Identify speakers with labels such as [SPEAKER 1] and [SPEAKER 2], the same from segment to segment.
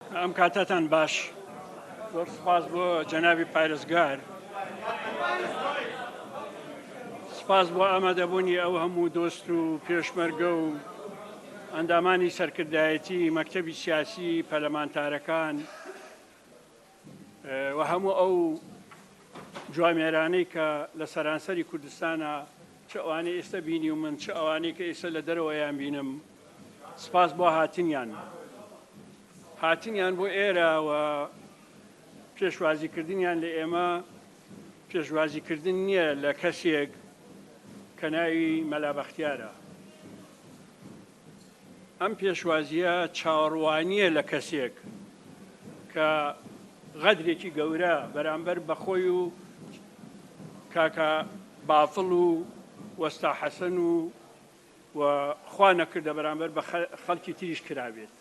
[SPEAKER 1] ئەم کاتەتان باش زۆر سپاس بۆ جەنابی پارێزگار سپاس بۆ ئامادەبوونی ئەو هەموو دۆست و پێشمەرگە و ئەندامانی سەرکردایەتی مەکتتەبی سیاسی پەلەمانتارەکان و هەموو ئەو جوامێرانەی کە لە سەرانسەری کوردستانە چ ئەوانەی ئێستا بینی و من چ ئەوانەی کە ئێستا لە دەرەوەیان بینم سپاس بۆ هاتنیان هاتنیان بۆ ئێرە و پێشوازیکردنیان لە ئێمە پێشوازیکردن نییە لە کەسێک کە ناوی مەلابەختیارە ئەم پێشوازیە چاوەڕوانییە لە کەسێک کە غەدرێکی گەورە بەرامبەر بەخۆی و کاکە بافڵ و وەستا حەسەن و و خوا نەکردە بەرامبەر بە خەڵکی تریش کرابێت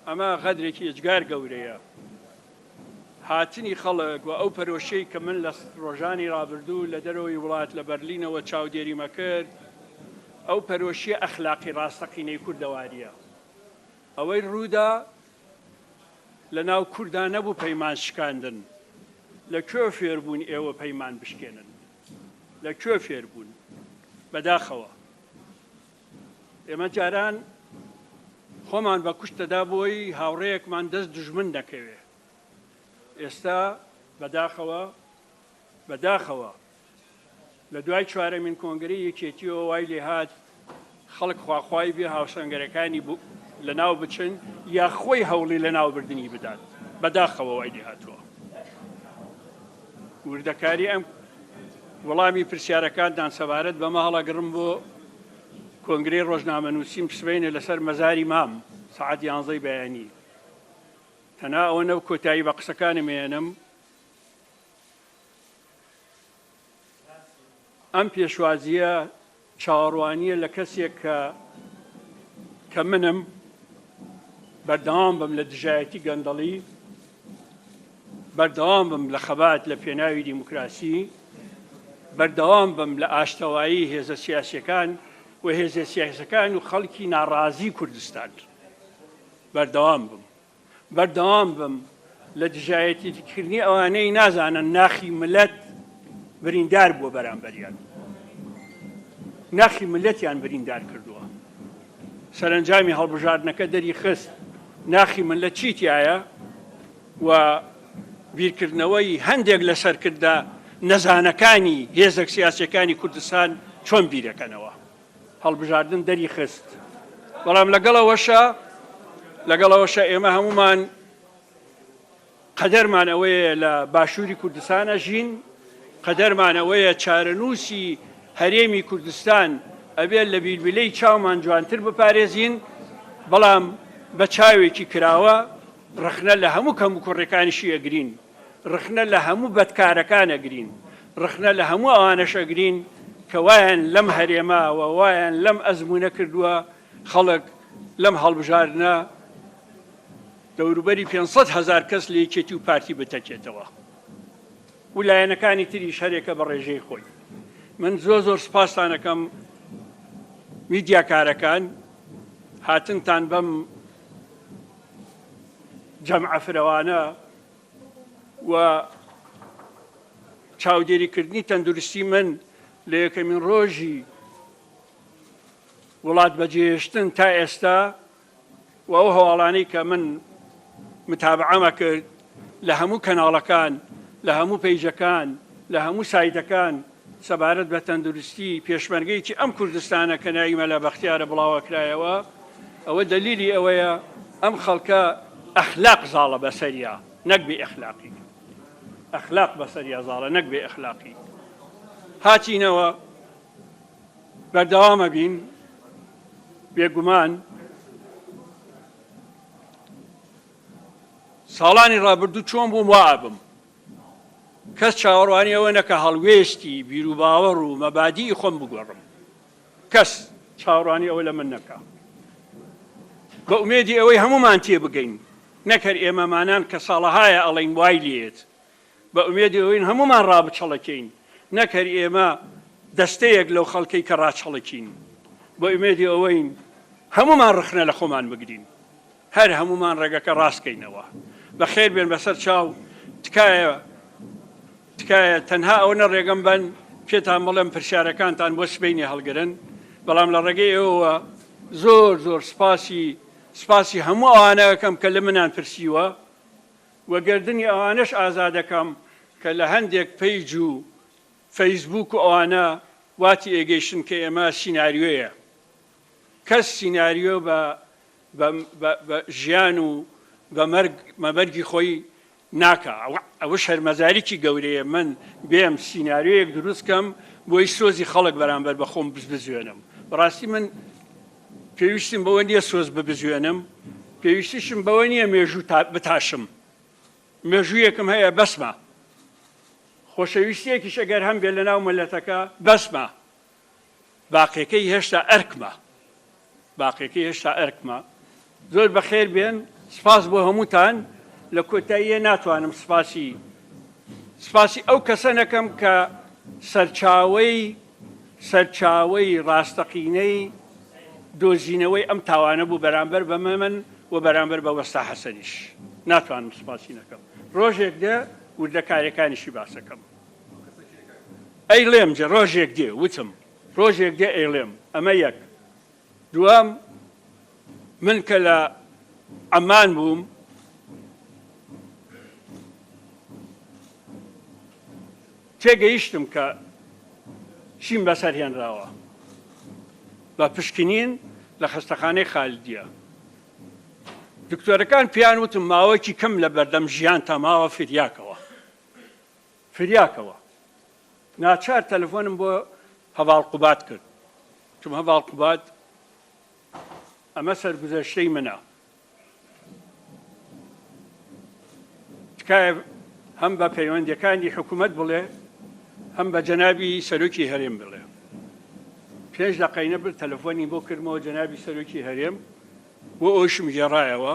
[SPEAKER 1] ئەمە غەدرێکی ئێجگار گەورەیە هاتنی خەڵک و ئەو پەرۆشەی کە من لە ڕۆژانی ڕابردوو لە دەرەوەی وڵات لە بەرلینەوە چاودێریمە کرد ئەو پەرۆشیە ئەخلاقی ڕاستەقینەی کوردەواریە ئەوەی ڕوودا لە ناو کوردانە بوو پەیمان شکاندن لە کوێ فێربوون ئێوە پەیمان بشکێنن لە کوێ فێر بوون؟ بەداخەوە ئێمە جاران خۆمان بە کوشت دەدا بۆی هاوڕێیەکمان دەست دژمن دەکەوێ ئێستا بەداخەوە بەداخەوە لە دوای چوارەمین کۆنگری یەکێتیەوە وای لێهات خەڵک خواخوای بێ هاوسەنگەرەکانی بو لەناو بچن یا خۆی هەوڵی لەناو بردنی بدات بەداخەوە وای لێ هاتووە وردەکاری ئەم وەڵامی پرسیارەکانتان سەبارەت بەمە هەڵەگڕم بۆ کۆنگری ڕۆژنامە نووسیم پسبینە لەسەر مەزاری مام سعات یانزەی بەیانی تەنا ئەوە نەو کۆتایی بە قسەکانم مێنم ئەم پێشوازییە چاوەڕوانییە لە کەسێک کە کە منم بەردەوام بم لە دژایەتی گەندەڵی بەردەوام بم لە خەبات لە پێناوی دیموکراسی بەردەوام بم لە ئاشتەوایی هێزە سیاسەکان و هێزە سیاسەکان و خەڵکی ناڕازی کوردستان بەردەوام بم بەردەوام بم لە دژایەتیکردنی ئەوانەی نازانن ناخی ملت بریندار بووە بەرامبەریان ناخی ملەتیان بریندار کردووە سەرنجامی هەڵبژاردنەکە دەری خست ناخی من لە چیتیایە و بیرکردنەوەی هەندێک لە سەرکردە نەزانەکانی هێزەک سیاسەکانی کوردستان چۆن بیرەکەنەوە هەڵبژاردن دەری خست، بەڵام لەگەڵ ئەوەشا لەگەڵ ئەوەشا ئێمە هەموومان قەدەرمان ئەوەیە لە باشووری کوردستان ئەژین، قەدەرمان ئەوەیە چارەنووسی هەرێمی کوردستان ئەبێت لە بیلبیلەی چاومان جوانتر بپارێزین، بەڵام بە چاوێکی کراوە ڕەخنە لە هەموو کەموکوڕیەکانیشی ئەگرین. ڕخنە لە هەموو بەدکارەکان ئەگرین، ڕخنە لە هەموو ئەوانەش ئەگرین کە وایان لەم هەرێمە و وایان لەم ئەزموونە کردووە، خەڵک لەم هەڵبژاردنە دەوروبەری پێنج سەد هەزار کەس لە یەکێتی و پارتی بتەکێتەوە و لایەنەکانی تریش هەرێکە بە ڕێژەی خۆی. من زۆر زۆر سپاستان ئەکەم میدیاکارەکان هاتنتان بەم جەمعە فرەوانە و چاودێریکردنی تەندروستی من لە یەکەمین ڕۆژی وڵات بەجێهێشتن تا ئێستا و ئەو هەواڵانەی کە من متابعەمە کرد لە هەموو کەناڵەکان لە هەموو پەیجەکان لە هەموو سایتەکان سەبارەت بە تەندروستی پێشمەرگەیەکی ئەم کوردستانە کە ناوی مەلا بەختیارە بڵاوەکرایەوە، ئەوە دەلیلی ئەوەیە ئەم خەڵکە ئەخلاق زاڵە بەسەریا نەک بێ ئەخلاقی. ئەخلاق بەسەریا زاڵە نەک بێ ئەخلاقی. هاتینەوە بەردەوام ئەبین بێگومان ساڵانی ڕابردوو چۆن بووم وا ئەبم. کەس چاوەڕوانی ئەوە نەکا هەڵوێستی، بیروباوەڕ و مەبادیئی خۆم بگۆڕم. کەس چاوەڕوانی ئەوە لە من نەکا. بە ئومێدی ئەوەی هەموومان تێبگەین، نەک هەر ئێمەمانان کە ساڵەهایە ئەڵێین وای لێیەت، بە ئومێدی ئەوەین هەموومان ڕابچەڵەکێین، نەک هەر ئێمە دەستەیەک لەو خەڵکەی کە ڕاچەڵەکین. بە ئومێدی ئەوەین هەموومان ڕەخنە لە خۆمان بگرین. هەر هەموومان ڕێگەکە ڕاست کەینەوە بەخێر بێن بەسەر چاو تکایە تکایە تەنها ئەوەنە ڕێگەم بەن پێتان بڵێم پرسیارەکانتان بۆ سبینی هەڵگرن بەڵام لە ڕێگەی ئێوە زۆر زۆر سپاسی سپاسی هەموو ئەوانەکەم کە لە منان پرسیوە و گردنی ئەوانەش ئازادەکەم کە لە هەندێک پەیج و فەیسبوک و ئەوانە واتی ئێگەیشتن کە ئێمە سیناریۆیە کەس سیناریۆ بە بە ژیان و بە مەرگ مەبەرگی خۆی ناکا ئەوە شەرمەزاریی گەورەیە من بێم سیناریۆیەک دروست کەم بۆی سۆزی خەڵک بەرامبەر بە خۆم بزبزوێنم بەڕاستی من پێویستیم بەوە نییە سۆز ببزوێنم پێویستیشم بەوە نییە مێژوو بتاشم مێژوویەکم هەیە بەسمە خۆشەویستیەکیش ئەگەر هەم بێ لە ناو مەلەتەکە بەسمە باقیەکەی هێشتا ئەرکمە. باقیەکەی هێشتا ئەرکمە. زۆر بەخێر بێن سپاس بۆ هەمووتان لە کۆتاییە ناتوانم سپاسی سپاسی ئەو کەسە نەکەم کە سەرچاوەی سەرچاوەی ڕاستەقینەی دۆزینەوەی ئەم تاوانە بوو بەرامبەر بە مەمن و بەرامبەر بە وەستا حەسەنیش ناتوانم سپاسی نەکەم ڕۆژێک دێ وردەکارەکانیشی باسەکەم ئەیڵێم جە ڕۆژێک دێ وتم ڕۆژێک دێ ئەیڵێم ئەمە یەک دووەم من کە لە عەمان بووم تێگەیشتم کە چیم بەسەر هێنراوە بە پشکنین لە خەستەخانەی خالدیە دکتۆرەکان پێیان وتم ماوەکی کەم لە بەردەم ژیان تاماوە فریاکەوە فریاکەوە ناچار تەلەفۆنم بۆ هەڤاڵ قوباد کرد وتم هەڤاڵ قوباد ئەمە سەرگوزەشتەی منە تکایە هەم بە پەیوەندەکانی حکوومەت بڵێ هەم بە جەنابی سەرۆکی هەرێم بڵێ پێش دەقینە بر تەلەفۆنی بۆ کردمەوە جەنابی سەرۆکی هەرێم بۆ ئەوشم گێڕایەوە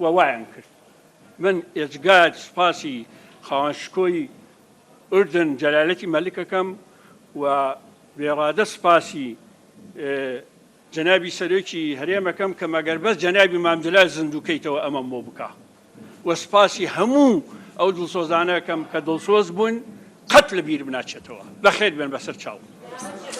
[SPEAKER 1] و وایان کرد من ئێجگار سوپاسی خاوەن شکۆی ئوردن جەلالەتی مەلک ئەکەم و بێڕادە سوپاسی جەنابی سەرۆکی هەرێم ئەکەم کە مەگەر بەس جەنابی مام جەلال زیندوو کەیتەوە ئەمەم بۆ بکا و سوپاسی هەموو ئەو دڵسۆزانە ئەکەم کە دڵسۆز بوون قەت لەبیرم ناچێتەوە بەخێر بێن بەسەر چاوم.